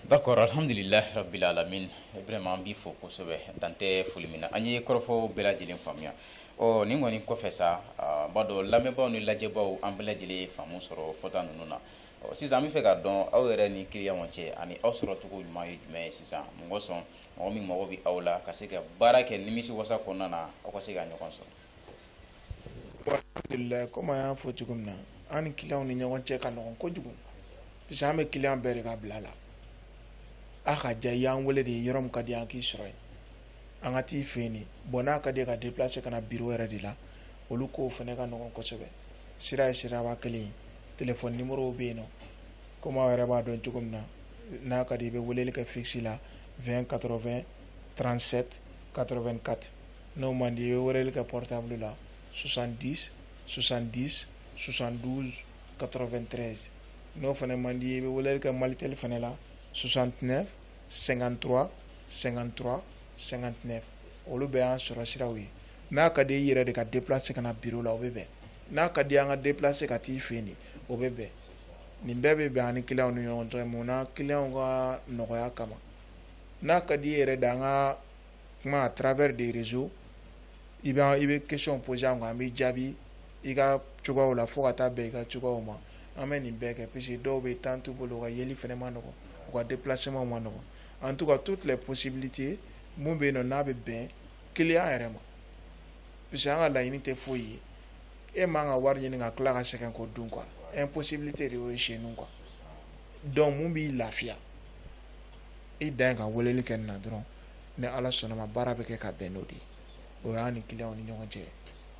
D'accord alhamdulillah rabbil alamin vraiment an b'i fo kosɛbɛ dan tɛ foli min na an ye kɔrɔfɔw bɛɛ lajɛlen faamuya ɔ nin kɔni kɔfɛ sa n b'a dɔn lamɛnbaaw ni lajɛbaaw an bɛɛ lajɛlen ye faamu sɔrɔ fɔta ninnu na Ɔ sisan an b'a fɛ k'a dɔn aw yɛrɛ ni clients cɛ ani aw sɔrɔ cogo ɲuman ye jumɛn ye sisan mɔgɔ sɔn mɔgɔ min mago bɛ aw la ka se ka baara kɛ nimisi wasa kɔnɔna na aw ka se ka ɲɔgɔn sɔrɔ. Bon alhamdulilahi comme an y'a fɔ cogo min na an ni clients ni ɲɔgɔn cɛ ka nɔgɔn kojugu puisque an bɛ client bɛɛ de ka bila la a ka diya i y'an wele de yɔrɔ min ka di an k'i sɔrɔ yen. an ka t'i fɛ yen bɔn n'a ka di ka di se ka na bi yɛrɛ de la olu ko fana ne ka ɲɔgɔn kosɛbɛ sira ye siraba kelen t bɛ yen nɔ ko yɛrɛ b'a dɔn cogo min na n'a ka di i bɛ wele kɛ fisi la vɛn karɔ2 transɛ karɔ2 kati n'o man di i bɛ wele kɛ pta la susandi susandi susan karɔ2 tɛ n'o fana man di i bɛ wele kɛ mali teli fana la susan tɛɛnɛ 53 53 59 olu bɛɛ y'an sɔrɔ siraw ye n'a ka di i yɛrɛ de ka déplacer ka na bureau la o bɛ bɛn n'a ka di an ka déplacer ka t'i fɛ yen o bɛ bɛn nin bɛɛ bɛ bɛn an ni clients ni ɲɔgɔn cɛ mun na clients ka nɔgɔya kama n'a ka di i yɛrɛ de an ka kuma à travers des réseaux i bɛ i bɛ question poser an kan an bɛ jaabi i ka cogoyaw la fo ka taa bɛn i ka cogoyaw ma an bɛ nin bɛɛ kɛ puisque dɔw bɛ temps t'u bolo u ka yeli fana man nɔgɔn u ka déplacement man nɔgɔn en tout cas toutes les possibilités mun bɛ yen nɔ n'a bɛ bɛn client yɛrɛ ma puisque an ka laɲini tɛ foyi ye e man ka wari ɲini ka tila ka sɛgɛn k'o dun quoi impossibilité de y'o ye chez nous quoi donc mun b'i lafiya i dan ye ka weleli kɛ nin na dɔrɔn ni ala sɔnn'a ma baara bɛ kɛ ka bɛn n'o de ye o y'an ni clients ni ɲɔgɔn cɛ ye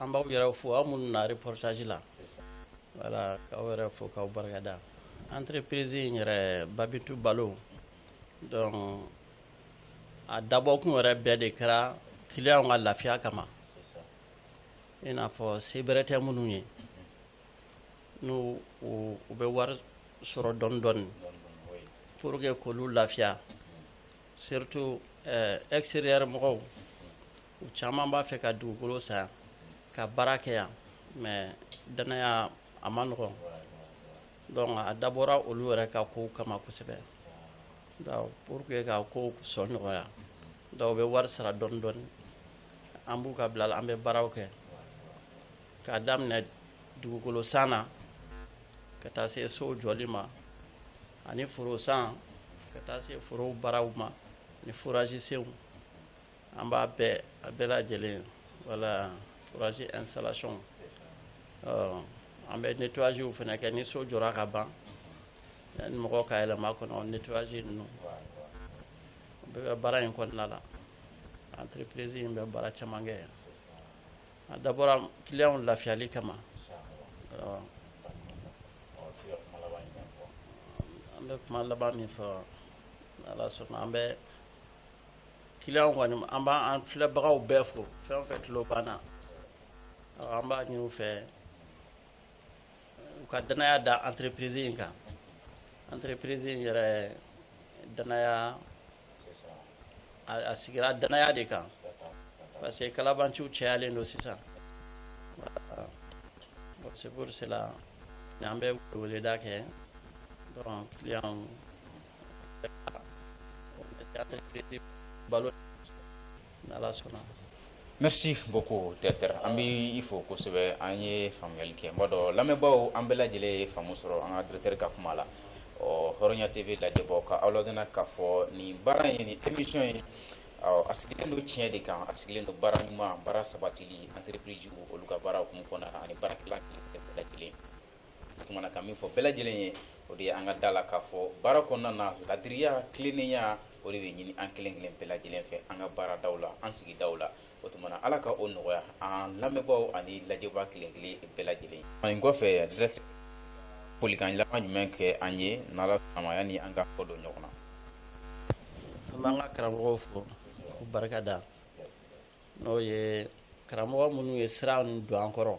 an b'aw yɛrɛ fo aw minnu na reportage la voilà k'aw yɛrɛ fo k'aw barikada entreprise in yɛrɛ Babintu Balo donc a dabɔkun yɛrɛ bɛɛ de kɛra clients ka lafiya kama i n'a fɔ se bɛrɛ tɛ minnu ye n'u u bɛ wari sɔrɔ dɔɔnin dɔɔnin pour que k'olu lafiya Surtout extérieur mɔgɔw u caman b'a fɛ ka dugukolo san yan ka baara kɛ yan mais danaya a ma nɔgɔn donc a dabɔra olu yɛrɛ ka kow kama kosɛbɛ pour que ka kow sɔn nɔgɔya donc u bɛ wari sara dɔɔni dɔɔni an b'u ka bila la an bɛ baaraw kɛ k'a daminɛ dugukolo san na ka taa se so jɔli ma ani foro san ka taa se foro baaraw ma ni forage senw an b'a bɛɛ a bɛɛ lajɛlen voilà forage installation an bɛ nettoyagew fana kɛ ni so jɔra ka ban yanni mɔgɔ ka yɛlɛma kɔnɔ nettoyage ninnu bɛɛ bɛ baara in kɔnɔna la entreprise in bɛ baara caman kɛ yan A dabɔra client lafiyali kama an bɛ kuma laban min fɔ ala sɔnna an bɛ client kɔni an b'an filɛbagaw bɛɛ fo fɛn o fɛn tulo b'an na an b'a ɲini u fɛ u ka danaya da entreprise in kan entreprise in yɛrɛ danaya a sigira danaya de kan parce que kalabanciw cɛyalen don sisan c'est pour cela an bɛ weleda kɛ balo Merci beaucoup directeur an b'i fo kosɛbɛ an ye faamuyali kɛ n b'a dɔn lamɛnbaaw an bɛɛ lajɛlen ye faamu sɔrɔ an ka directeur ka kuma la ɔ Hɔrɔnya TV lajɛbaaw ka aw ladɔnniya k'a fɔ nin baara in nin émission in awɔ a sigilen don tiɲɛ de kan a sigilen don baara ɲuman baara sabatili entreprise olu ka baara hukumu kɔnɔna na ani baarakɛla bɛɛ lajɛlen tumana ka min fɔ bɛɛ lajɛlen ye o de ye an ka da la k'a fɔ baara kɔnɔna na ladiriya tilennenya o de bɛ ɲini an kelen kelen bɛɛ lajɛlen fɛ an ka baaradaw la an sigidaw la o tumana ala ka o nɔgɔya an lamɛnbaaw ani lajɛbaa kelen kelen bɛɛ lajɛlen nin kɔfɛ directeur folikan laban jumɛn kɛ an ye n'ala sɔnna a ma yanni an ka kɔ don ɲɔgɔn na an b'an ka karamɔgɔw fo k'u barika da n'o ye karamɔgɔ minnu ye sira nin don an kɔrɔ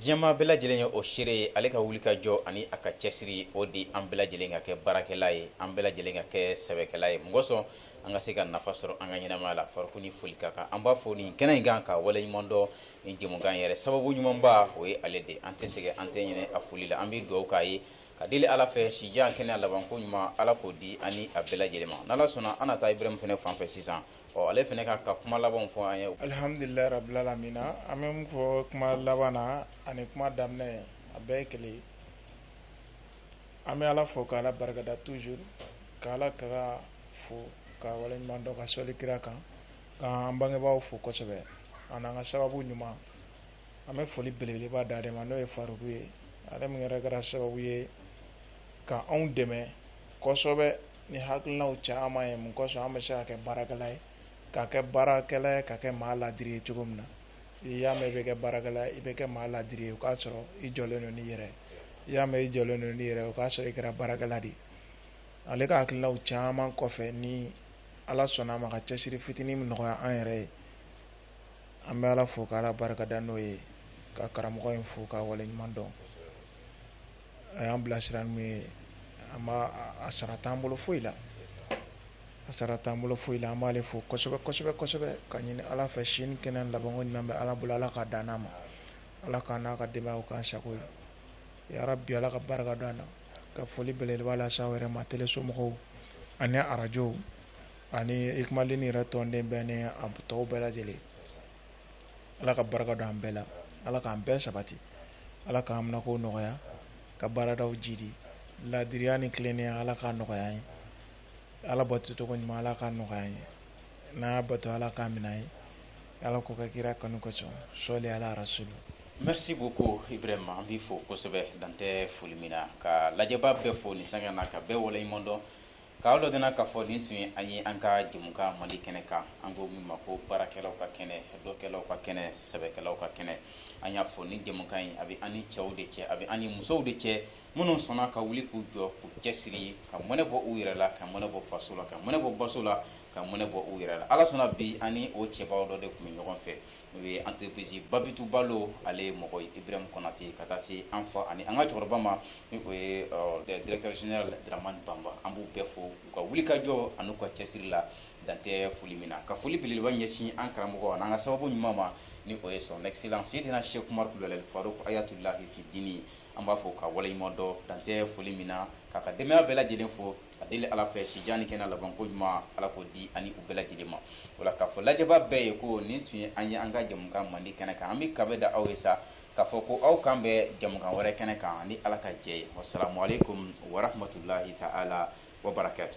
diɲɛmaa bɛɛ lajɛlen ye o seere ye ale ka wuli ka jɔ ani a ka cɛsiri o de an bɛɛ lajɛlen ka kɛ baarakɛla ye an bɛɛ lajɛlen ka kɛ sɛbɛkɛla ye mun kɔsɔn an ka se ka nafa sɔrɔ an ka ɲɛnamaya la Faruku ni foli ka kan an b'a fo nin kɛnɛ in kan k'a wale ɲuman dɔn nin jɛmukan yɛrɛ sababu ɲumanba o ye ale de an tɛ sɛgɛn an tɛ ɲinɛ a foli la an bɛ dugawu k'a ye ka deli ala fɛ sijan kɛnɛya labanko ɲuman ala k'o di an ni a bɛɛ lajɛlen ma n'ala sɔnna an na taa ibrahim fana fan fɛ sisan Ɔ ale fana k'a ka kuma labanw fɔ an ye alihamdulilahi rabil alamina an bɛ min fɔ kuma laban na ani kuma daminɛ a bɛɛ ye kelen an bɛ ala fo k'ala barikada toujours k'ala ka fo ka waleɲuman dɔn ka sɔli kira kan k'an bangebaaw fo kosɛbɛ an n'an ka sababu ɲuman an bɛ foli belebeleba d'ale ma n'o ye Faruku ye ale min yɛrɛ kɛra sababu ye ka anw dɛmɛ kosɛbɛ ni hakilinaw caman ye mun kɔsɔn an bɛ se ka kɛ baarakɛla ye ka kɛ baarakɛla ye ka kɛ maa ladiri ye cogo min na i y'a mɛn i bɛ kɛ baarakɛla ye i bɛ kɛ maa ladiri ye o k'a sɔrɔ i jɔlen don n'i yɛrɛ i y'a mɛn i jɔlen don n'i yɛrɛ o k'a sɔrɔ i kɛra baarakɛla de ye ale ka hakilinaw caman kɔfɛ ni ala sɔnna a ma ka cɛsiri fitinin min nɔgɔya an yɛrɛ ye an bɛ ala fo k'ala barikada n'o ye ka karamɔgɔ in fo k'a waleɲuman dɔn a y'an bilasira n'u ye an b'a a sara t'an bolo foyi la a sara t'an bolo foyi la an b'ale fo kosɛbɛ kosɛbɛ kosɛbɛ k'a ɲini Ala fɛ si ni kɛnɛya labanko ɲuman bɛ Ala bolo Ala k'a d'an n'a ma Ala k'a n'a ka denbayaw k'an sago ye yarabi Ala ka barika don an na ka foli belebeleba lase aw yɛrɛ ma tele somɔgɔw ani arajow ani Ikumalini yɛrɛ tɔnden bɛɛ ni a tɔw bɛɛ lajɛlen ala ka barika don an bɛɛ la ala k'an bɛɛ sabati ala k'an minako nɔgɔya ka baaradaw jiidi laadiriya ni tilennenya ala k'a nɔgɔya an ye ala bato cogo ɲuman ala k'a nɔgɔya an ye n'an y'a bato ala k'a minɛ an ye ala k'o kɛ kira kanu kosɔn sɔli ala rasulu merci beaucoup ibrahima an b'i fo kosɛbɛ dantɛ foli min na ka lajɛbaa bɛɛ fo nin sanga na ka bɛɛ waleɲuman dɔn K'aw ladɔnniya k'a fɔ nin tun ye an ye an ka jɛmukan Mali kɛnɛ kan, an ko min ma ko baarakɛlaw ka kɛnɛ, dɔkɛlaw ka kɛnɛ, sɛbɛkɛlaw ka kɛnɛ. An y'a fɔ nin jɛmukan in, a bɛ an ni cɛw de cɛ, a bɛ an ni musow de cɛ, minnu sɔnna ka wuli k'u jɔ, k'u cɛsiri, ka mɔnɛ bɔ u yɛrɛ la, ka mɔnɛ bɔ faso la, ka mɔnɛ bɔ baso la, ka mɔnɛ bɔ u yɛrɛ la. Ala sɔnna bi an ni o cɛbaw dɔ de tun bɛ ɲɔgɔn fɛ. n'o ye entreprise Babitu Balo a ɲɛmɔgɔ Ibrahim Konate ka taa se an fa ani an ka cɛkɔrɔba ma ni o ye directeur général Daramani Bamba an b'u bɛɛ fo u ka wulikajɔ an'u ka cɛsiri la dan tɛ foli min na ka foli belebeleba ɲɛsin an karamɔgɔ an'an ka sababu ɲuman ma ni o ye son excellence Seydina Cheikh Umaru Kulubali Faruk Ayatulahi fi dini an b'a fo k'a waleɲumandɔn dan tɛ foli min na k'a ka denbaya bɛɛ lajɛlen fo a deli ala fɛ sijan ni kɛnɛya labanko ɲuman ala k'o di an ni u bɛɛ lajɛlen ma o la k'a fɔ lajɛbaa bɛɛ ye ko nin tun ye an ye an ka jamukan mandi kɛnɛ kan an bɛ kanbɛn da aw ye sa k'a fɔ ko aw kanbɛn jamukan wɛrɛ kɛnɛ kan ni ala ka jɛ ye wasalaamualeykum warahmatulahi taala wa barakatu